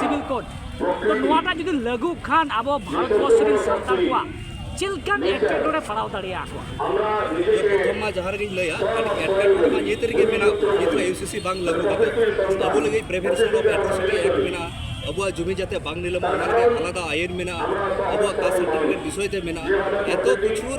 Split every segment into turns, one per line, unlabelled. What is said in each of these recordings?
ᱥᱤᱵᱤᱞ ᱠᱳᱰ ᱛᱚ ᱱᱚᱣᱟᱴᱟᱜ ᱡᱩᱫᱤ ᱞᱟᱹᱜᱩ ᱠᱷᱟᱱ ᱟᱵᱚ ᱵᱷᱟᱨᱚᱛ ᱵᱚᱨᱥ ᱨᱮᱱ ᱥᱟᱱᱛᱟᱲ ᱠᱚᱣᱟᱜ ᱪᱮᱫ ᱞᱮᱠᱟᱱ ᱮᱴᱠᱮᱴᱚᱬᱮ ᱯᱟᱲᱟᱣ ᱫᱟᱲᱮᱭᱟ ᱠᱚᱣᱟ ᱯᱨᱚᱛᱷᱚᱢ ᱢᱟ ᱡᱟᱦᱟᱸ ᱨᱮᱜᱮᱧ ᱞᱟᱹᱭᱟ ᱮᱴᱠᱮᱴᱚᱬᱮ ᱢᱟ ᱱᱤᱛ ᱨᱮᱜᱮ ᱢᱮᱱᱟᱜ ᱱᱤᱛ ᱨᱮ ᱤᱭᱩᱥᱤᱥᱤ ᱵᱟᱝ ᱞᱟᱹᱜᱩ ᱠᱟᱛᱮ ᱟᱵᱚ ᱞᱟᱹᱜᱤᱫ ᱯᱨᱤᱵᱷᱮᱱᱥᱚᱱ ᱚᱯᱷ ᱮᱴᱨᱚᱥᱤᱴᱤ ᱮᱠᱴ ᱢᱮᱱᱟᱜᱼᱟ ᱟᱵᱚᱣᱟᱜ ᱡᱩᱢᱤ ᱡᱟᱛᱮ ᱵᱟᱝ ᱱᱤᱞᱟᱹᱢᱚᱜ ᱚᱱᱟ ᱞᱟᱹᱜᱤᱫ ᱟᱞᱟᱫᱟ ᱟᱭᱤᱱ ᱢᱮᱱᱟᱜᱼᱟ ᱟᱵᱚᱣᱟᱜ ᱠᱟᱥᱴ ᱥᱟᱨᱴᱤᱯᱷᱤᱠᱮᱴ ᱵᱤᱥᱚᱭ ᱛᱮ ᱢᱮᱱᱟᱜᱼᱟ ᱮᱛᱚ ᱠᱤᱪᱷᱩ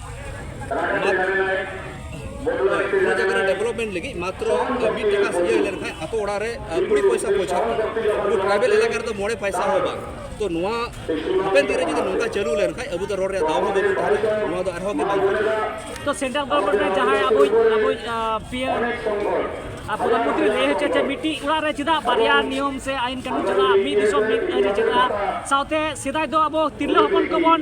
ᱚᱱᱟ ᱡᱟᱭᱜᱟ ᱨᱮ ᱰᱮᱵᱷᱞᱚᱯᱢᱮᱱᱴ ᱞᱟᱹᱜᱤᱫ ᱢᱟᱛᱨᱚ ᱢᱤᱫ ᱴᱟᱠᱟ ᱤᱭᱟᱹ ᱞᱮᱱᱠᱷᱟᱱ ᱟᱛᱳ ᱚᱲᱟᱜ ᱨᱮ ᱠᱩᱲᱤ ᱯᱚᱭᱥᱟ ᱯᱚᱭᱥᱟ ᱟᱵᱚ ᱴᱨᱟᱭᱵᱮᱞ ᱮᱞᱟᱠᱟ ᱨᱮᱫᱚ ᱢᱚᱬᱮ ᱯᱚᱭᱥᱟ ᱦᱚᱸ ᱵᱟᱝ ᱛᱚ ᱱᱚᱣᱟ ᱦᱟᱯᱮᱱ ᱫᱤᱱ ᱨᱮ ᱡᱩᱫᱤ ᱱᱚᱝᱠᱟ ᱪᱟᱹᱞᱩ ᱞᱮᱱᱠᱷᱟᱱ ᱟᱵᱚ ᱫᱚ ᱨᱚᱲ ᱨᱮᱭᱟᱜ ᱫᱟᱣ ᱦᱚᱸ ᱵᱟᱵᱚᱱ ᱛᱟᱦᱮᱱᱟ ᱱᱚᱣᱟ ᱫᱚ ᱟᱨᱦᱚᱸ ᱜᱮ ᱵᱟᱝ ᱛᱚ ᱥᱮᱱᱴᱨᱟᱞ ᱜᱚᱵᱷᱚᱨᱱᱢᱮᱱᱴ ᱨᱮ ᱡᱟᱦᱟᱸᱭ ᱟᱵᱚ ᱟᱵᱚ ᱯᱤᱭᱮᱢ ᱯᱨᱚᱫᱷᱟᱱᱢᱚᱱᱛᱨᱤ ᱞᱟᱹᱭ ᱦᱚᱪᱚ ᱪᱮᱫ ᱢᱤᱫᱴᱤᱡ ᱚᱲᱟᱜ ᱨᱮ ᱪᱮᱫᱟᱜ ᱵᱟᱨᱭᱟ ᱱᱤᱭᱚᱢ ᱥᱮ ᱟᱭᱤᱱ ᱠᱟᱹᱱᱩᱱ ᱪᱟᱞᱟᱜᱼᱟ ᱢᱤᱫ ᱫᱤᱥᱚᱢ ᱢᱤᱫ ᱟᱹᱨᱤ ᱪᱟᱞᱟᱜᱼᱟ ᱥᱟᱶᱛᱮ ᱥᱮᱫᱟᱭ ᱫᱚ ᱟᱵᱚ ᱛᱤᱨᱞᱟᱹ ᱦᱚᱯᱚᱱ ᱠᱚᱵᱚᱱ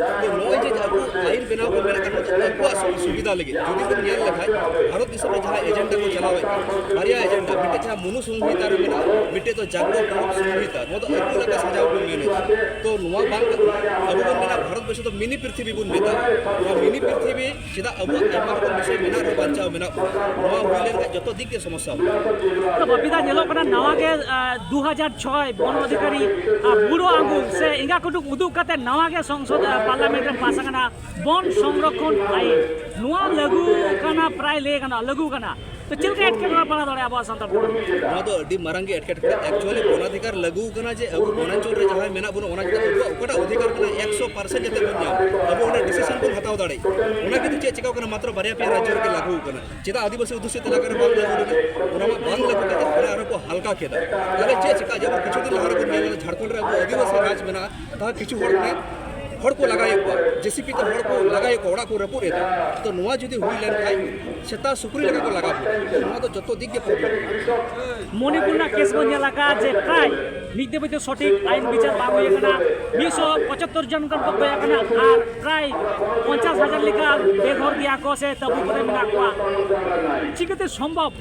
ᱱᱚᱜᱼᱚᱭ ᱡᱮ ᱟᱵᱚ ᱟᱹᱭᱤᱱ ᱵᱮᱱᱟᱣ ᱠᱚ ᱢᱮᱱᱮᱫ ᱛᱟᱵᱚᱱ ᱡᱮ ᱩᱱᱠᱩᱣᱟᱜ ᱥᱩᱵᱤᱫᱷᱟ ᱞᱟᱹᱜᱤᱫ ᱡᱩᱫᱤ ᱵᱚᱱ ᱧᱮᱞ ᱞᱮᱠᱷᱟᱱ ᱵᱷᱟᱨᱚᱛ ᱫᱤᱥᱚᱢ ᱨᱮ ᱡᱟᱦᱟᱸ ᱮᱡᱮᱱᱰᱟ ᱠᱚ ᱪᱟᱞᱟᱣᱮᱫ ᱠᱟᱱ ᱵᱟᱨᱭᱟ ᱮᱡᱮᱱᱰᱟ ᱢᱤᱫᱴᱮᱡ ᱡᱟᱦᱟᱸ ᱢᱚᱱᱩ ᱥᱚᱝᱦᱤᱛᱟ ᱨᱮ ᱢᱮᱱᱟᱜᱼᱟ ᱢᱤᱫᱴᱮᱡ ᱫᱚ ᱡᱟᱜᱽᱨᱚᱛ ᱫᱷᱚᱨᱚᱢ ᱥᱚᱝᱦᱤᱛᱟ ᱱᱚᱣᱟ ᱫᱚ ᱟᱹᱛᱩ ᱞᱮᱠᱟ ᱥᱟᱡᱟᱣ ᱵᱚᱱ ᱢᱮᱱᱮᱫᱟ ᱛᱚ ᱱᱚᱣᱟ ᱵᱟᱝ ᱠᱟᱛᱮ ᱟᱵᱚ ᱵᱚᱱ ᱢᱮᱱᱟ ᱵᱷᱟᱨᱚᱛ ᱵᱚᱨᱥᱚ ᱫᱚ ᱢᱤᱱᱤ ᱯᱨᱤᱛᱷᱤᱵᱤ ᱵᱚᱱ ᱢᱮᱛᱟᱜᱼᱟ ᱱᱚᱣᱟ ᱢᱤᱱᱤ ᱯᱨᱤᱛᱷᱤᱵᱤ ᱪᱮᱫᱟᱜ ᱟᱵᱚ ᱟᱭᱢᱟ ᱨᱚᱠᱚᱢ ᱵᱤᱥᱚᱭ ᱢᱮᱱᱟᱜ ᱨᱮ ᱵᱟᱧᱪᱟᱣ ᱢᱮᱱᱟᱜ ᱵᱚᱱᱟ ᱱᱚᱣᱟ ᱦᱩᱭ ᱞᱮᱱᱠᱷᱟᱱ ᱡᱚᱛᱚ ᱫᱤᱠ ᱜᱮ ᱥᱚᱢᱚᱥᱥᱟ ᱛᱚ ᱵᱟᱯᱤᱫᱟ ᱧᱮᱞᱚᱜ ᱠᱟᱱᱟ ᱱᱟᱣᱟ ᱜᱮ ᱫᱩ ᱦᱟᱡᱟᱨ ᱪᱷᱚᱭ ᱵᱚᱱ ᱚᱫᱷᱤᱠᱟᱨᱤ ᱵᱩᱲᱳ ᱟᱹᱜᱩ ᱥᱮ ᱮᱸᱜᱟ ᱠᱩᱴᱩᱠ ᱩᱫᱩᱜ ᱠᱟᱛᱮ ᱱᱟᱣᱟ ᱜᱮ ᱥᱚᱝᱥᱚᱫ ᱯᱟᱨᱞᱟᱢᱮᱱᱴ ᱨᱮ ᱯᱟᱥ ᱟᱠᱟᱱᱟ ᱵᱚᱱ ᱥᱚᱝᱨᱚᱠᱷᱚᱱ ᱟᱭᱤᱱ ᱱᱚᱣᱟ ᱞᱟᱹᱜᱩ ᱠᱟᱱᱟ ᱯᱨᱟᱭ ᱞᱟᱹᱭ ᱜᱟᱱᱚᱜᱼᱟ ᱞᱟᱹᱜᱩ ᱠᱟᱱᱟ ᱛᱚ ᱪᱮᱫ ᱞᱮᱠᱟ ᱮᱴᱠᱮᱴᱚᱬᱮ ᱯᱟᱲᱟᱣ ᱫᱟᱲᱮᱭᱟᱜᱼᱟ ᱟᱵᱚᱣᱟᱜ ᱥᱟᱱᱛᱟᱲ ᱠᱚ ᱱᱚᱣᱟ ᱫᱚ ᱟᱹᱰᱤ ᱢᱟᱨᱟᱝ ᱜᱮ ᱮᱴᱠᱮᱴᱚᱬᱮ ᱮᱠᱪᱩᱭᱟᱞᱤ ᱵᱚᱱᱟᱫᱷᱤᱠᱟᱨ ᱞᱟᱹᱜᱩ ᱠᱟᱱᱟ ᱡᱮ ᱟᱵᱚ ᱵᱚᱱᱟᱧᱪᱚᱞ ᱨᱮ ᱡᱟᱦᱟᱸᱭ ᱢᱮᱱᱟᱜ ᱵᱚᱱᱟ ᱚᱱᱟ ᱪᱮᱛᱟᱱ ᱟᱵᱚᱣᱟᱜ ᱚᱠᱟᱴᱟᱜ ᱚᱫᱷᱤᱠᱟᱨ ᱠᱟᱱᱟ ᱮᱠᱥᱚ ᱯᱟᱨᱥᱮᱱᱴ ᱡᱟᱛᱮ ᱵᱚᱱ ᱧᱟᱢ ᱟᱵᱚ ᱚᱸᱰᱮ ᱰᱤᱥᱤᱥᱚᱱ ᱵᱚᱱ ᱦᱟᱛᱟᱣ ᱫᱟᱲᱮᱜ ᱚᱱᱟ ᱠᱤᱱᱛᱩ ᱪᱮᱫ ᱪᱤᱠᱟᱹᱣ ᱠᱟᱱᱟ ᱢᱟᱛᱨᱚ ᱵᱟᱨᱭᱟ ᱯᱮᱭᱟ ᱨᱟᱡᱽᱡᱚ ᱨᱮᱜᱮ ᱞᱟᱹᱜᱩ ᱠᱟᱱᱟ ᱪᱮᱫᱟᱜ ᱟᱹᱫᱤᱵᱟᱹᱥᱤ ᱚᱫᱷᱩᱥᱤᱛ ᱮᱞᱟᱠᱟ ᱨᱮ ᱵᱟᱝ ᱞᱟᱹᱜᱩ ᱞᱮᱱᱟ ᱚᱱᱟ ᱢᱟ ᱵᱟᱝ ᱞᱟᱹᱜᱩ ᱠᱟᱛᱮ ᱚᱱᱟ ᱟᱨᱦᱚᱸ ᱠᱚ ᱦᱟᱞᱠᱟ ᱠᱮᱫᱟ ᱛᱟᱦᱚᱞᱮ ᱪᱮᱫ ᱪᱤᱠᱟᱹᱜᱼᱟ ᱡᱮᱢᱚᱱ ᱠᱤᱪᱷᱩ ᱫᱤᱱ ᱞᱟᱦᱟ ᱨᱮᱵᱚᱱ ᱧᱮᱞ ᱞᱮᱫᱟ ᱡᱷᱟᱲᱠᱷᱚᱸᱰ ᱨᱮ ᱟᱵᱚ ᱟᱹᱫᱤᱵᱟᱹᱥᱤ ᱨᱟᱡᱽ ᱢᱮᱱᱟᱜᱼᱟ ᱛᱟᱦᱚᱞᱮ ᱠᱤᱪᱷᱩ ᱦᱚᱲ ᱢᱟᱱᱮ ᱦᱚᱲ ᱠᱚ ᱞᱟᱜᱟᱭᱮᱫ ᱠᱚᱣᱟ ᱡᱮᱥᱤᱯᱤ ᱛᱮ ᱦᱚᱲ ᱠᱚ ᱞᱟᱜᱟᱭᱮᱫ ᱠᱚᱣᱟ ᱚᱲᱟᱜ ᱠᱚ ᱨᱟᱹᱯᱩᱫ ᱮᱫᱟ ᱛᱚ ᱱᱚᱣᱟ ᱡᱩᱫᱤ ᱦᱩᱭ ᱞᱮᱱᱠᱷᱟᱱ ᱥᱮᱛᱟ ᱥᱩᱠᱨᱤ ᱞᱮᱠᱟ ᱠᱚ ᱞᱟᱜᱟ ᱠᱚᱣᱟ ᱱᱚᱣᱟ ᱫᱚ ᱡᱚᱛᱚ ᱫᱤᱠ ᱜᱮ ᱯᱨᱚᱵᱞᱮᱢ ᱢᱚᱱᱤᱯᱩᱨ ᱨᱮᱱᱟᱜ ᱠᱮᱥ ᱵᱚᱱ ᱧᱮᱞ ᱟᱠᱟᱫᱼᱟ ᱡᱮ ᱯᱨᱟᱭ ᱢᱤᱫ ᱫᱮᱵᱚ ᱫᱚ ᱥᱚᱴᱷᱤᱠ ᱟᱭᱤᱱ ᱵᱤᱪᱟᱨ ᱵᱟᱝ ᱦᱩᱭ ᱟᱠᱟᱱᱟ ᱢᱤᱫ ᱥᱚ ᱯᱚᱸᱪᱟᱛᱛᱚᱨ ᱡᱚᱱ ᱜᱟᱱ ᱠᱚ ᱜᱚᱡ ᱟᱠᱟᱱᱟ ᱟᱨ ᱯᱨᱟᱭ ᱯᱚᱧᱪᱟᱥ ᱦᱟᱡᱟᱨ ᱞᱮᱠᱟ ᱵᱮᱜᱷᱚᱨ ᱜᱮᱭᱟ ᱠᱚ ᱥᱮ ᱛᱟᱹᱵᱩ ᱠᱚᱨᱮ ᱢᱮᱱᱟᱜ ᱠᱚᱣᱟ ᱪᱤᱠᱟᱹᱛᱮ ᱥᱚᱢᱵᱷᱚᱵ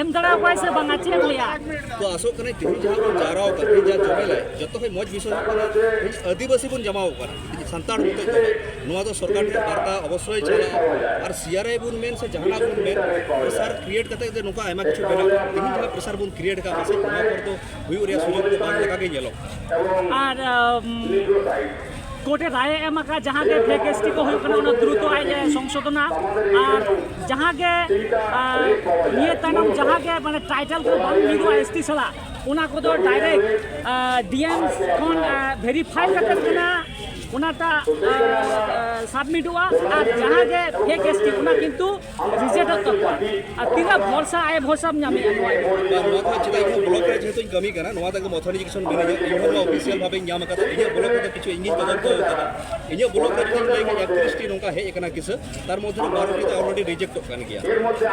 ᱮᱢ ᱫᱟᱲᱟ ᱠᱚᱭ ᱥᱮ ᱵᱟᱝ ᱟᱪᱷᱮ ᱞᱮᱭᱟ ᱛᱚ ᱟᱥᱚᱜ ᱠᱟᱱᱟ ᱛᱤᱦᱤᱧ ᱡᱟᱦᱟᱸ ᱵᱚᱱ ᱡᱟᱣᱨᱟᱣ ᱠᱟᱱᱟ ᱛᱤᱦᱤᱧ ᱡᱟᱦᱟᱸ ᱡᱚᱢᱮᱞ ᱟᱭ ᱡᱚᱛᱚ ᱠᱷᱚᱱ ᱢᱚᱡᱽ ᱵᱤᱥᱚᱭ ᱦᱩᱭᱩᱜ ᱠᱟᱱᱟ ᱛᱤᱦᱤᱧ ᱟᱹᱫᱤᱵᱟᱹᱥᱤ ᱵᱚᱱ ᱡᱟᱢᱟᱣ ᱠᱟᱱᱟ ᱛᱤᱦᱤᱧ ᱥᱟᱱᱛᱟᱲ ᱢᱚᱛᱚ ᱫᱚ ᱱᱚᱣᱟ ᱫᱚ ᱥᱚᱨᱠᱟᱨ ᱴᱷᱮᱱ ᱵᱟᱨᱛᱟ ᱚᱵᱚᱥᱥᱳᱭ ᱪᱟᱞᱟᱜᱼᱟ ᱟᱨ ᱥᱤᱭᱟᱨᱟᱭ ᱵᱚᱱ ᱢᱮᱱ ᱥᱮ ᱡᱟᱦᱟᱱᱟᱜ ᱵᱚᱱ ᱢᱮᱱ ᱯᱨᱮᱥᱟᱨ ᱠᱨᱤᱭᱮᱴ ᱠᱟᱛᱮ ᱡᱮ ᱱᱚᱝᱠᱟ ᱟᱭᱢᱟ ᱠᱤᱪᱷᱩ ᱵᱮᱱᱟᱜ ᱛᱤᱦᱤᱧ ᱡᱟᱦᱟᱸ ᱯᱨᱮᱥᱟᱨ ᱵᱚᱱ ᱠᱨᱤᱭᱮᱴ ᱠᱟᱜ ᱯᱟᱥᱮᱡ ᱱᱚᱣᱟ ᱯᱚᱨ ᱫᱚ ᱦᱩᱭᱩᱜ ᱨᱮᱭᱟᱜ ᱥᱩᱡᱳᱜᱽ ᱫᱚ ᱵᱟᱝ ᱞᱮᱠᱟ ᱜᱮ ᱧᱮᱞᱚᱜ ᱠᱟᱱᱟ ᱟᱨ ᱠᱳᱨᱴ ᱮ ᱨᱟᱭ ᱮᱢ ᱟᱠᱟᱫ ᱡᱟᱦᱟᱸ ᱜᱮ ᱯᱷᱮᱠ ᱮᱥ ᱴᱤ ᱠᱚ ᱦᱩᱭᱩᱜ ᱠᱟᱱᱟ ᱚᱱᱟ ᱫᱨᱩᱛᱚ ᱟᱡ ᱮ ᱥᱚᱝᱥᱳᱫᱷᱚᱱᱟ ᱟᱨ ᱡᱟᱦᱟᱸ ᱜᱮ ᱱᱤᱭᱟᱹ ᱛᱟᱭᱱᱚᱢ ᱡᱟᱦᱟᱸ ᱜᱮ ᱢᱟᱱᱮ ᱴᱟᱭᱴᱮᱞ ᱠᱚ ᱵᱟᱝ ᱦᱩᱭᱩᱜᱼᱟ ᱮᱥ ᱴᱤ ᱥᱟᱞᱟᱜ ᱚᱱᱟ ᱠᱚᱫᱚ ᱰᱟᱭᱨᱮᱠᱴ ᱰᱤ ᱮᱢ ᱠᱷᱚᱱ ᱵᱷᱮᱨᱤᱯᱷᱟᱭ ᱠᱟᱛᱮ ᱠᱟᱱᱟ ᱚᱱᱟᱴᱟᱜ ᱥᱟᱵᱢᱤᱴᱚᱜᱼᱟ ᱟᱨ ᱡᱟᱦᱟᱸ ᱜᱮ ᱯᱷᱮᱠ ᱮᱥ ᱴᱤ ᱚᱱᱟ ᱠᱤᱱᱛᱩ ᱨᱤᱡᱮᱠᱴ ᱛᱟᱠᱚᱣᱟ ᱟᱨ ᱛᱤᱱᱟᱹᱜ ᱵᱷᱚᱨᱥᱟ ᱟᱭ ᱵᱷᱚᱨᱥᱟᱢ ᱧᱟᱢᱮᱜᱼᱟ ᱱᱚᱣᱟ ᱱᱚᱣᱟ ᱠᱚ ᱪᱮᱫᱟᱜ ᱤᱧ ᱵᱞᱚᱠ ᱨᱮ ᱡᱮᱦᱮᱛᱩᱧ ᱠᱟᱹᱢᱤ ᱠᱟᱱᱟ ᱱᱚᱣᱟ ᱛᱟᱜᱮ ᱢᱚᱛᱷᱚᱱ ᱮᱡᱩᱠᱮᱥᱚᱱ ᱢᱮᱱᱟᱜᱼᱟ ᱤᱧ ᱦᱚᱸ ᱱᱚᱣᱟ ᱚᱯᱷᱤᱥᱤᱭᱟᱞ ᱵᱷᱟᱵᱮᱧ ᱧᱟᱢ ᱟᱠᱟᱫᱟ ᱤᱧᱟᱹᱜ ᱵᱞᱚᱠ ᱨᱮᱫᱚ ᱠᱤᱪᱷᱩ ᱤᱧᱜᱤᱧ ᱛᱚᱫᱚᱱᱛᱚ ᱟᱠᱟᱫᱟ ᱤᱧᱟᱹᱜ ᱵᱞᱚᱠ ᱨᱮ ᱡᱩᱫᱤᱧ ᱞᱟᱹᱭ ᱠᱮᱫᱟ ᱮᱠᱛᱨᱤᱥᱴᱤ ᱱᱚᱝᱠᱟ ᱦᱮᱡ ᱟᱠᱟᱱᱟ ᱠᱤᱥᱟᱹ ᱛᱟᱨ ᱢᱚᱫᱽᱫᱷᱮ ᱨᱮ ᱵᱟᱨᱚᱴᱤ ᱫᱚ ᱚᱞᱨᱮᱰᱤ ᱨᱤᱡᱮᱠᱴᱚᱜ ᱠᱟᱱ ᱜᱮᱭᱟ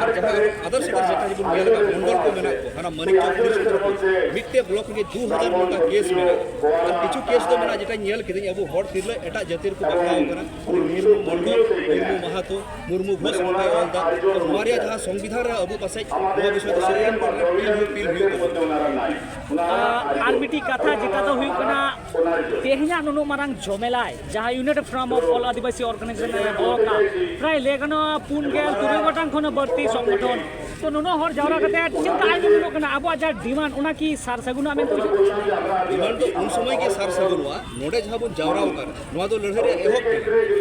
ᱟᱨ ᱡᱟᱦᱟᱸ ᱟᱫᱟᱨᱥ ᱟᱫᱟᱨᱥ ᱡᱮᱴᱟ ᱡᱮᱵᱚᱱ ᱧᱮᱞ ᱟᱠᱟᱫ ᱢᱚᱱᱰᱚᱞ ᱠᱚ ᱢᱮᱱᱟᱜ ᱠᱚ ᱦᱟᱱᱟ ᱢᱟᱹᱱᱤᱠ ᱪᱚᱠ ᱯᱩᱞᱤᱥ ᱠᱚ ᱢᱤᱫᱴᱮᱱ ᱵᱞᱚᱠ ᱨᱮᱜᱮ ᱫᱩ ᱦᱟᱡᱟᱨ ᱱᱚᱝᱠᱟ ᱠᱮᱥ ᱢᱮᱱᱟᱜᱼᱟ ᱟᱨ ᱠᱤᱪᱷᱩ ᱠᱮᱥ ᱫᱚ ᱢᱮᱱᱟᱜᱼᱟ ᱡᱮᱴᱟᱧ ᱧᱮᱞ ᱠᱤᱫᱟᱹᱧ ᱟᱵᱚ ᱦᱚᱲ ᱛᱤᱨᱞᱟᱹ ᱮᱴᱟᱜ ᱡᱟᱹᱛᱤ ᱨᱮᱠᱚ ᱵᱟᱯᱞᱟᱣ ᱠᱟᱱᱟ ᱢᱩᱨᱢᱩ ᱢᱚᱱᱰᱚᱞ ᱢᱩᱨᱢᱩ ᱢᱟᱦᱟᱛᱚ ᱢᱩᱨᱢᱩ ᱜᱷᱳᱥ ᱠᱚᱭ ᱚᱞ ᱫᱟ ᱱᱚᱣᱟ ᱨᱮᱭᱟᱜ ᱡᱟᱦᱟᱸ ᱥᱚᱝᱵᱤᱫᱷᱟᱱ ᱨᱮ ᱟᱵᱚ ᱯᱟᱥᱮᱡ ᱱᱚᱣᱟ ᱵᱤᱥᱚᱭ ᱛᱮ ᱥᱩᱯᱨᱤᱢ ᱠᱳᱨᱴ ᱨᱮ ᱯᱤᱞ ᱦᱩᱭ ᱯᱤᱞ ᱦᱩᱭᱩᱜ ᱛᱟᱵᱚᱱᱟ ᱟᱨ ᱢᱤᱫᱴᱤᱡ ᱠᱟᱛᱷᱟ ᱡᱮᱴᱟ ᱫᱚ ᱦᱩᱭᱩᱜ ᱠᱟᱱᱟ ᱛᱮᱦᱮᱧᱟᱜ ᱱᱩᱱᱟᱹᱜ ᱢᱟᱨᱟᱝ ᱡᱚᱢᱮᱞᱟᱭ ᱡᱟᱦᱟᱸ united front of all Adivasi organisation ᱨᱮ ᱫᱚᱦᱚ ᱠᱟᱜ ᱯᱨᱟᱭ ᱞᱟᱹᱭ ᱜᱟᱱᱚᱜᱼᱟ ᱯᱩᱱ ᱜᱮᱞ ᱛᱩᱨᱩᱭ ᱜᱚᱴᱟᱝ ᱠᱷᱚᱱ ᱵᱟᱹᱲᱛᱤ ᱥᱚᱝᱜᱚᱴᱷᱚᱱ ᱛᱚ ᱱᱩᱱᱟᱹᱜ ᱦᱚᱲ ᱡᱟᱣᱨᱟ ᱠᱟᱛᱮ ᱪᱮᱫ ᱞᱮᱠᱟ ᱟᱭᱢᱟ ᱧᱮᱞᱚᱜ ᱠᱟᱱᱟ ᱟᱵᱚᱣᱟᱜ ᱡᱟᱦᱟᱸ ᱰᱤᱢᱟᱱᱰ ᱚᱱᱟ ᱠᱤ ᱥᱟᱨ ᱥᱟᱹᱜᱩᱱᱚᱜᱼᱟ ᱢᱮᱱᱛᱮ ᱰᱤᱢᱟᱱᱰ ᱫᱚ ᱩᱱ ᱥᱚᱢᱚᱭ ᱜᱮ ᱥᱟᱨ ᱥᱟᱹᱜᱩᱱᱚᱜᱼᱟ ᱱᱚᱰᱮ ᱡᱟᱦᱟᱸ ᱵᱚᱱ ᱡᱟᱣᱨᱟ ᱟᱠᱟᱱᱟ ᱱᱚᱣᱟ ᱫᱚ ᱞᱟᱹᱲᱦᱟᱹᱭ ᱨᱮ ᱮᱦᱚᱵ ᱛᱮ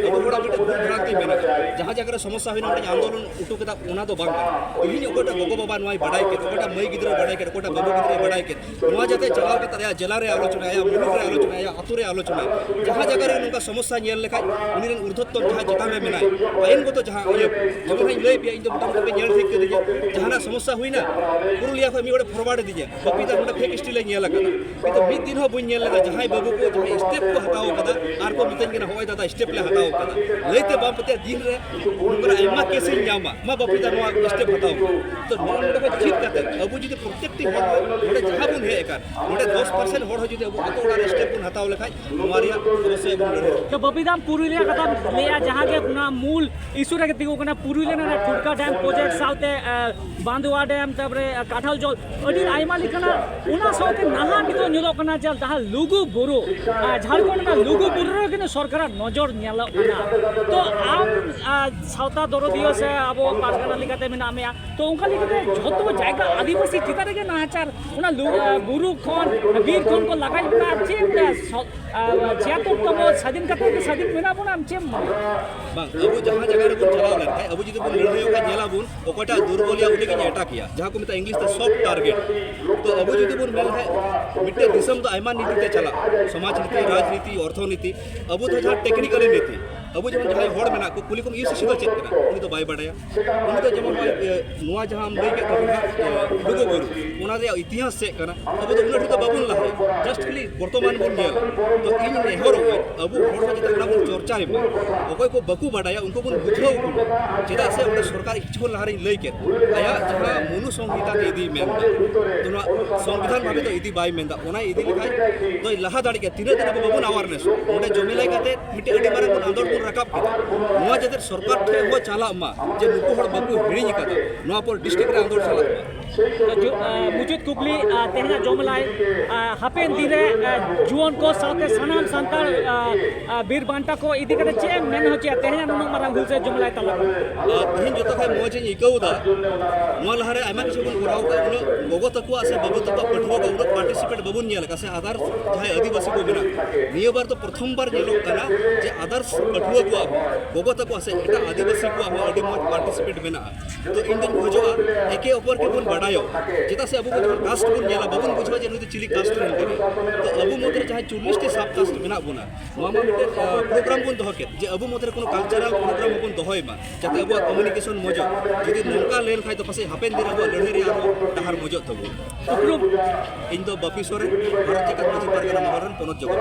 ᱟᱵᱚ ᱦᱚᱲᱟᱜ ᱢᱤᱫᱴᱮᱱ ᱫᱩᱠ ᱵᱷᱨᱟᱱᱛᱤ ᱢᱮᱱᱟᱜᱼᱟ ᱡᱟᱦᱟᱸ ᱡᱟᱭᱜᱟ ᱨᱮ ᱥᱚᱢᱚᱥᱥᱟ ᱦᱩᱭᱱᱟ ᱢᱤᱫᱴᱮᱱ ᱟᱱᱫᱳᱞᱚᱱ ᱩᱴᱩ ᱠᱮᱫᱟ ᱚᱱᱟ ᱫᱚ ᱵᱟᱝ ᱠᱟᱱᱟ ᱛᱮᱦᱮᱧ ᱚᱠᱚᱭᱴᱟᱜ ᱜᱚᱜᱚ ᱵᱟᱵᱟ ᱱᱚᱣᱟᱭ ᱵᱟᱰᱟᱭ ᱠᱮᱫ ᱚᱠᱚᱭᱴᱟᱜ ᱢᱟᱹᱭ ᱜᱤᱫᱽᱨᱟᱹ ᱵᱟᱰᱟᱭ ᱠᱮᱫ ᱚᱠᱚᱭᱴᱟᱜ ᱵᱟᱹᱵᱩ ᱜᱤᱫᱽᱨᱟᱹ ᱵᱟᱰᱟᱭ ᱠᱮᱫ ᱱᱚᱣᱟ ᱡᱟᱛᱮ ᱪᱟᱞᱟᱣ ᱠᱟᱛᱮ ᱟᱭᱟᱜ ᱡᱮᱞᱟ ᱨᱮ ᱟᱞᱳᱪᱚᱱᱟ ᱟᱭᱟᱜ ᱢᱩᱞᱩᱠ ᱨᱮ ᱟᱞᱳᱪᱚᱱᱟ ᱟᱭᱟᱜ ᱟᱛᱳ ᱨᱮ ᱟᱞᱳᱪᱚᱱᱟ ᱡᱟᱦᱟᱸ ᱡᱟᱭᱜᱟ ᱨᱮ ᱱᱚᱝᱠᱟ ᱥᱚᱢᱚᱥᱥᱟ ᱧᱮᱞ ᱞᱮᱠᱷᱟᱡ ᱩᱱᱤ ᱨᱮᱱ ᱩᱨᱫᱷᱚᱛᱚᱢ ᱡᱟᱦᱟᱸ ᱪᱮᱛᱟᱱ ᱨᱮ ᱢᱮᱱᱟᱭ ᱟᱭᱤᱱᱜᱚᱛᱚ ᱡᱟᱦᱟᱸ ᱤᱭᱟᱹ ᱡᱮᱢᱚᱱ ᱦᱟᱸᱜ ᱤᱧ ᱞᱟᱹᱭ ᱯᱮᱭᱟ ᱤᱧ ᱫᱚ ᱢᱚᱴᱟᱢᱩᱴᱤ ᱯᱮ ᱧᱮᱞ ᱴᱷᱤᱠ ᱠᱟᱹᱫᱤᱧᱟ ᱡᱟᱦᱟᱱᱟᱜ ᱥᱚᱢᱚᱥᱥᱟ ᱦᱩᱭᱱᱟ ᱯᱩᱨᱩᱞᱤᱭᱟ ᱠᱷᱚᱱ ᱢᱤᱫ ᱦᱚᱲᱮ ᱯᱷᱚᱨᱣᱟᱨᱰ ᱟᱹᱫᱤᱧᱟ ᱠᱚᱯᱤ ᱫᱟ ᱱᱚᱰᱮ ᱯᱷᱮᱠ ᱥᱴᱤᱞ ᱧᱮᱞ ᱟᱠᱟᱫᱟ ᱠᱤᱱᱛᱩ ᱢᱤᱫ ᱫᱤᱱ ᱦᱚᱸ ᱵᱟᱹᱧ ᱧᱮᱞ ᱞᱮᱫᱟ ᱡᱟᱦᱟᱸᱭ ᱵᱟᱹᱵᱩ ᱠᱚ ᱡᱟᱦᱟᱸᱭ ᱥᱴᱮᱯ ᱠᱚ ᱦᱟᱛᱟᱣ ᱟᱠᱟᱫᱟ ᱟᱨ ᱠᱚ ᱢᱤᱛᱟᱹᱧ ᱠᱟᱱᱟ ᱦᱚᱸᱜᱼᱚᱭ ᱫᱟᱫᱟ ᱥᱴᱮᱯ ᱞᱮ ᱦᱟᱛᱟᱣ ᱟᱠᱟᱫᱟ ᱞᱟᱹᱭᱛᱮ ᱵᱟᱢ ᱯᱟᱹᱛᱭᱟᱹᱜᱼᱟ ᱫᱤᱱ ᱨᱮ ᱱᱚᱝᱠᱟᱱ ᱟᱭᱢᱟ ᱠᱮᱥ ᱤᱧ ᱧᱟᱢᱟ ᱢᱟ ᱵᱟᱹᱵᱩ ᱫᱟ ᱱᱚᱣᱟ ᱥᱴᱮᱯ ᱦᱟᱛᱟᱣ ᱢᱮ ᱛᱚ ᱱᱚᱣᱟ ᱱᱚᱰᱮ ᱠᱷᱚᱱ ᱪᱮᱫ ᱠᱟᱛᱮ ᱟᱵᱚ ᱡᱩᱫᱤ ᱯᱨᱚᱛᱮᱠᱴᱤ ᱦᱚᱲ ᱱᱚᱰᱮ ᱡᱟᱦᱟᱸ ᱵᱚᱱ ᱦᱮᱡ ᱟᱠᱟᱱ ᱱᱚᱰᱮ ᱫᱚᱥ ᱯᱟᱨᱥᱮᱱᱴ ᱦᱚᱲ ᱦᱚᱸ ᱡᱩᱫᱤ ᱟᱵᱚ ᱟᱛᱳ ᱚᱲᱟᱜ ᱨᱮ ᱥᱴᱮᱯ ᱵᱚᱱ ᱦᱟᱛᱟᱣ ᱞᱮᱠᱷᱟᱡ ᱱᱚᱣᱟ ᱨᱮᱭᱟᱜ ᱚᱵᱚᱥᱥᱳᱭ ᱵᱚᱱ ᱞᱟᱹᱲᱦᱟᱹᱭ ᱛᱚ ᱵᱟᱹᱵᱤᱫᱟᱢ ᱯᱩᱨᱩᱞᱤᱭᱟᱹ ᱠᱟᱛᱷᱟᱢ ᱞᱟᱹᱭᱟ ᱡᱟᱦᱟᱸ ᱜᱮ ᱚᱱᱟ ᱢᱩᱞ ᱤᱥᱩ ᱨᱮᱜᱮ ᱛᱤᱸᱜᱩ ᱠᱟᱱᱟ ᱯᱩᱨᱩᱞᱤᱭᱟᱹ ᱨᱮᱱᱟᱜ ᱴᱷᱩᱴᱠᱟ ᱰᱮᱢ ᱯᱨᱚᱡᱮᱠᱴ ᱥᱟᱶᱛᱮ ᱵᱟᱸᱫᱩᱣᱟ ᱰᱮᱢ ᱛᱟᱯᱚᱨᱮ ᱠᱟᱴᱷᱟᱞ ᱡᱚᱞ ᱟᱹᱰᱤ ᱟᱭᱢᱟ ᱞᱮᱠᱟᱱᱟᱜ ᱚᱱᱟ ᱥᱟᱶᱛᱮ ᱱᱟᱦᱟᱜ ᱱᱤᱛᱚᱜ ᱧᱮᱞᱚᱜ ᱠᱟᱱᱟ ᱡᱮ ᱡᱟᱦᱟᱸ ᱞᱩᱜᱩ ᱵᱩᱨᱩ ᱡᱷᱟᱲᱠᱷᱚᱸᱰ ᱨᱮᱱᱟᱜ ᱞᱩᱜᱩ ᱵᱩᱨᱩ ᱨᱮ ᱠᱤᱱᱛᱩ ᱥᱚᱨᱠᱟᱨᱟᱜ ᱱᱚᱡᱚᱨ ᱧᱮᱞᱚᱜ ᱠᱟᱱᱟ ᱛᱚ ᱟᱢ ᱥᱟᱶᱛᱟ ᱫᱚᱨᱚᱫᱤᱭᱟᱹ ᱥᱮ ᱟᱵᱚ ᱯᱟᱨᱜᱟᱱᱟ ᱞᱮᱠᱟᱛᱮ ᱢᱮᱱᱟᱜ ᱢᱮᱭᱟ ᱛᱚ ᱚᱱᱠᱟ ᱞᱮᱠᱟᱛᱮ ᱡᱷᱚᱛᱚ ᱡᱟᱭᱜᱟ ᱟᱹᱫᱤᱵᱟᱹᱥᱤ ᱪᱮᱛᱟᱱ ᱨᱮᱜᱮ ᱱᱟᱦᱟᱪᱟᱨ ᱚᱱᱟ ᱵᱩᱨᱩ ᱠᱷᱚᱱ ᱵᱤᱨ ᱠᱷᱚᱱ ᱠᱚ ᱞᱟᱜᱟᱭ ᱵᱚᱱᱟ ᱪᱮᱫ ᱪᱷᱤᱭᱟᱛᱚᱨ ᱛᱚᱢ ᱥᱟᱹᱫᱷᱤᱱ ᱠᱟᱛᱮ ᱜᱮ ᱥᱟᱹᱫᱷᱤᱱ ᱢᱮᱱᱟᱜ ᱵᱚᱱᱟ ᱟᱢ ᱪᱮᱫ ᱵᱟᱝ ᱟᱵᱚ ᱡᱟᱦᱟᱸ ᱡᱟᱭᱜᱟ ᱨᱮᱵᱚᱱ ᱪᱟᱞᱟᱣ ᱞᱮᱱᱠᱷᱟᱱ ᱟᱵᱚ ᱡᱩᱫᱤ ᱵᱚᱱ ᱞᱟᱹᱲᱦᱟᱹᱭᱚᱜᱼᱟ ᱧᱮᱞᱟᱵᱚᱱ ᱚᱠᱚᱭᱴᱟ ᱫᱩᱨᱵᱚᱞᱤᱭᱟ ᱩᱱᱤ ᱜᱮ ᱮᱴᱟᱠ ᱭᱟ ᱡᱟᱦᱟᱸ ᱠᱚ ᱢᱮᱛᱟ ᱤᱝᱞᱤᱥ ᱛᱮ ᱥᱚᱯ ᱴᱟᱨᱜᱮᱴ ᱛᱚ ᱟᱵᱚ ᱡᱩᱫᱤ ᱵᱚᱱ ᱢᱮᱱ ᱠᱷᱟᱡ ᱢᱤᱫᱴᱮ ᱫᱤᱥᱚᱢ ᱫᱚ ᱟᱭᱢᱟ ᱱᱤᱛᱤ ᱛᱮ ᱪᱟᱞᱟᱜ ᱥᱚᱢᱟᱡᱽ ᱱᱤᱛᱤ ᱨᱟᱡᱽᱱᱤᱛᱤ ᱚᱨᱛᱷᱚᱱᱤᱛᱤ ᱟᱵᱚ ᱫᱚ ᱡᱟᱦᱟᱸ ᱴᱮᱠᱱᱤᱠᱟᱞ ᱱᱤᱛᱤ ᱟᱵᱚ ᱡᱮᱢᱚᱱ ᱡᱟᱦᱟᱸᱭ ᱦᱚᱲ ᱢᱮᱱᱟᱜ ᱠᱚ ᱠᱩᱞᱤ ᱠᱚᱢ ᱤᱭᱩ ᱥᱤᱥᱤ ᱫᱚ ᱪᱮᱫ ᱠᱟᱱᱟ ᱩᱱᱤ ᱫᱚ ᱵᱟᱭ ᱵᱟᱰᱟᱭᱟ ᱩᱱᱤ ᱫᱚ ᱡᱮᱢᱚᱱ ᱱᱚᱣᱟ ᱡᱟᱦᱟᱸ ᱞᱟᱹᱭ ᱠᱮᱫ ᱛᱟᱵᱚᱱᱟ ᱞᱩᱜᱩ ᱵᱩᱨᱩ ᱚᱱᱟ ᱨᱮᱭᱟᱜ ᱤᱛᱤᱦᱟᱥ ᱪᱮᱫ ᱠᱟᱱᱟ ᱟᱵᱚ ᱫᱚ ᱩᱱᱟᱹᱜ ᱰᱷᱮᱨ ᱫᱚ ᱵᱟᱵᱚᱱ ᱞᱟᱦᱟᱭᱟ ᱡᱟᱥᱴ ᱠᱷᱟᱹᱞᱤ ᱵᱚᱨᱛᱚᱢᱟᱱ ᱵᱚᱱ ᱧᱮᱞ ᱛᱚ ᱤᱧ ᱱᱮᱦᱚᱨᱚᱜ ᱟᱵᱚ ᱦᱚᱲ ᱠᱚ ᱡᱟᱛᱮ ᱚᱱᱟ ᱵᱚᱱ ᱪᱚᱨᱪᱟᱭ ᱢᱟ ᱚᱠᱚᱭ ᱠᱚ ᱵᱟᱠᱚ ᱵᱟᱰᱟᱭᱟ ᱩᱱᱠᱩ ᱵᱚᱱ ᱵᱩᱡᱷᱟᱹᱣ ᱠᱚ ᱢᱟ ᱪᱮᱫᱟᱜ ᱥᱮ ᱚᱸᱰᱮ ᱥᱚᱨᱠᱟᱨ ᱠᱤᱪᱷᱩ ᱠᱷᱚᱱ ᱞᱟᱦᱟᱨᱤᱧ ᱞᱟᱹᱭ ᱠᱮᱫ ᱟᱭᱟᱜ ᱡᱟᱦᱟᱸ ᱢᱚᱱᱩ ᱥᱚᱝᱦᱤᱛᱟ ᱛᱮ ᱤᱫᱤᱭ ᱢᱮᱱᱫᱟ ᱛᱚ ᱱᱚᱣᱟ ᱥᱚᱝᱵᱤᱫᱷᱟᱱ ᱵᱷᱟᱵᱮ ᱫᱚ ᱤᱫᱤ ᱵᱟᱭ ᱢᱮᱱᱫᱟ ᱚᱱᱟ ᱤᱫᱤ ᱞᱮᱠᱷᱟᱡ ᱫᱚᱭ ᱞᱟᱦᱟ ᱫᱟᱲᱮᱜ ᱜᱮᱭᱟ ᱛᱤᱱᱟᱹᱜ ᱫᱤᱱ ᱟᱵᱚ ᱵᱟᱵᱚᱱ ᱟᱣᱟᱨᱱᱮᱥ ᱚᱸᱰᱮ ᱡᱚᱢᱮᱞᱟᱭ ᱠᱟᱛᱮ ᱢᱤᱫᱴᱮᱱ ᱟᱹᱰᱤ ᱢᱟᱨᱟᱝ ᱵᱚᱱ ᱟᱸᱫᱳᱲ ᱵᱚᱱ ᱨᱟᱠᱟᱵ ᱠᱮᱫᱟ ᱱᱚᱣᱟ ᱡᱟᱛᱮ ᱥᱚᱨᱠᱟᱨ ᱴᱷᱮᱱ ᱦᱚᱸ ᱪᱟᱞᱟᱜ ᱢᱟ ᱡᱮ ᱱᱩᱠᱩ ᱦᱚᱲ ᱵᱟᱠᱚ ᱦᱤᱲᱤᱧ ᱟᱠᱟᱫᱟ ᱱᱚᱣᱟ ᱯᱚᱨ ᱰᱤᱥᱴᱨᱤᱠᱴ ᱨᱮ ᱟᱸᱫᱳᱲ ᱪᱟᱞᱟᱜ ᱢᱟ ᱢᱩᱪᱟᱹᱫ ᱠᱩᱠᱞᱤ ᱛᱮᱦᱮᱧᱟᱜ ᱡᱚᱢᱞᱟᱭ ᱦᱟᱯᱮᱱ ᱫᱤᱱ ᱨᱮ ᱡᱩᱣᱟᱹᱱ ᱠᱚ ᱥᱟᱶᱛᱮ ᱥᱟᱱᱟᱢ ᱥᱟᱱᱛᱟᱲ ᱵᱤᱨ ᱵᱟᱱᱴᱟ ᱠᱚ ᱤᱫᱤ ᱠᱟᱛᱮ ᱪᱮᱫ ᱮᱢ ᱢᱮᱱ ᱦᱚᱪᱚᱭᱟ ᱛᱮᱦᱮᱧᱟᱜ ᱱᱩᱱᱟᱹᱜ ᱢᱟᱨᱟᱝ ᱦᱩᱞᱥᱟᱹ ᱡᱚᱢᱞᱟᱭ ᱛᱟᱞᱟ ᱛᱮᱦᱮᱧ ᱡᱚᱛᱚ ᱠᱷᱚᱱ ᱢᱚᱡᱽ ᱤᱧ ᱟᱹᱭᱠᱟᱹᱣ ᱮᱫᱟ ᱱᱚᱣᱟ ᱞᱟᱦᱟᱨᱮ ᱟᱭᱢᱟ ᱠᱤᱪᱷᱩ ᱵᱚᱱ ᱠᱚᱨᱟᱣ ᱠᱟᱜ ᱩᱱᱟᱹᱜ ᱜᱚᱜᱚ ᱛᱟᱠᱚᱣᱟᱜ ᱥᱮ ᱵᱟᱹᱵᱩ ᱛᱟᱠᱚᱣᱟᱜ ᱯᱟᱹᱴᱷᱩᱣᱟᱹ ᱠᱚ ᱩᱱᱟᱹᱜ ᱯᱟᱨᱴᱤᱥᱤᱯᱮᱴ ᱵᱟᱵᱚᱱ ᱧᱮᱞ ᱟᱠᱟᱫ ᱥᱮ ᱟᱫᱟᱨᱥ ᱡᱟᱦᱟᱸᱭ ᱟᱹᱫᱤᱵᱟᱹᱥᱤ ᱠᱚ ᱢᱮᱱᱟᱜ ᱱᱤᱭᱟᱹ ᱵᱟᱨ ᱫᱚ ᱯᱨᱚᱛᱷᱚᱢ ᱵᱟᱨ ᱧᱮᱞᱚᱜ ᱠᱟᱱᱟ ᱡᱮ ᱟᱫᱟᱨᱥ ᱯᱟᱹᱴᱷᱩᱣᱟᱹ ᱠᱚᱣᱟᱜ ᱜᱚᱜᱚ ᱛᱟᱠᱚᱣᱟᱜ ᱥᱮ ᱮᱴᱟᱜ ᱟᱹᱫᱤᱵᱟᱹᱥᱤ ᱠᱚᱣᱟᱜ ᱦᱚᱸ ᱟᱹᱰᱤ ᱢᱚᱡᱽ ᱯᱟᱨᱴᱤᱥᱤᱯᱮᱴ ᱢᱮᱱᱟᱜᱼᱟ ᱛᱚ ᱤᱧ ᱫᱚᱧ ᱵᱩᱡᱷᱟᱹᱣᱟ ᱮᱠᱮ ᱚᱯᱚᱨ ᱠᱮ ᱵᱚᱱ ᱵᱟᱰᱟᱭᱚᱜ ᱪᱮᱫᱟᱜ ᱥᱮ ᱟᱵᱚ ᱠᱚ ᱡᱚᱠᱷᱚᱱ ᱠᱟᱥᱴ ᱵᱚᱱ ᱧᱮᱞᱟ ᱵᱟᱵᱚᱱ ᱵᱩᱡᱷᱟᱹᱣᱟ ᱡᱮ ᱱᱩᱭ ᱫᱚ ᱪᱤᱞᱤ ᱠᱟᱥᱴ ᱨᱮᱱ ᱠᱟᱱᱟᱭ ᱛᱚ ᱟᱵᱚ ᱢᱚᱫᱽᱫᱷᱮ ᱡᱟᱦᱟᱸ ᱪᱚᱞᱞᱤᱥ ᱴᱤ ᱥᱟᱵ ᱠᱟᱥᱴ ᱢᱮᱱᱟᱜ ᱵᱚᱱᱟ ᱱᱚᱣᱟ ᱢᱟ ᱢᱤᱫᱴᱮᱱ ᱯᱨᱳᱜᱨᱟᱢ ᱵᱚᱱ ᱫᱚᱦᱚ ᱠᱮᱫ ᱡᱮ ᱟᱵᱚ ᱢᱚᱫᱽᱫᱷᱮ ᱠᱳᱱᱳ ᱠᱟᱞᱪᱟᱨᱟᱞ ᱯᱨᱳᱜᱨᱟᱢ ᱵᱚᱱ ᱫᱚᱦᱚᱭ ᱢᱟ ᱡᱟᱛᱮ ᱟᱵᱚᱣᱟᱜ ᱠᱚᱢᱤউনিᱠᱮᱥᱚᱱ ᱢᱚᱡᱚᱜ ᱡᱩᱫᱤ ᱱᱚᱝᱠᱟ ᱞᱮᱱ ᱠᱷᱟᱡ ᱫᱚ ᱯᱟᱥᱮᱡ ᱦᱟᱯᱮᱱ ᱫᱤᱱ ᱟᱵᱚᱣᱟᱜ ᱞᱟᱹᱲᱦᱟᱹᱭ ᱨᱮ ᱟᱨᱦᱚᱸ ᱰᱟᱦᱟᱨ ᱢᱚᱡᱚᱜ ᱛᱟᱵᱚ ᱩᱯᱨᱩᱢ ᱤᱧ ᱫᱚ ᱵᱟᱯᱤ ᱥᱚᱨᱮᱱ ᱵᱷᱟᱨᱚᱛ ᱡᱟᱠᱟᱛ ᱢᱟᱹᱡᱷᱤ ᱯᱟᱨᱜᱟᱱᱟ ᱢᱚᱦᱚᱞ ᱨᱮᱱ ᱯᱚᱱᱚᱛ ᱡᱚᱜᱚᱛ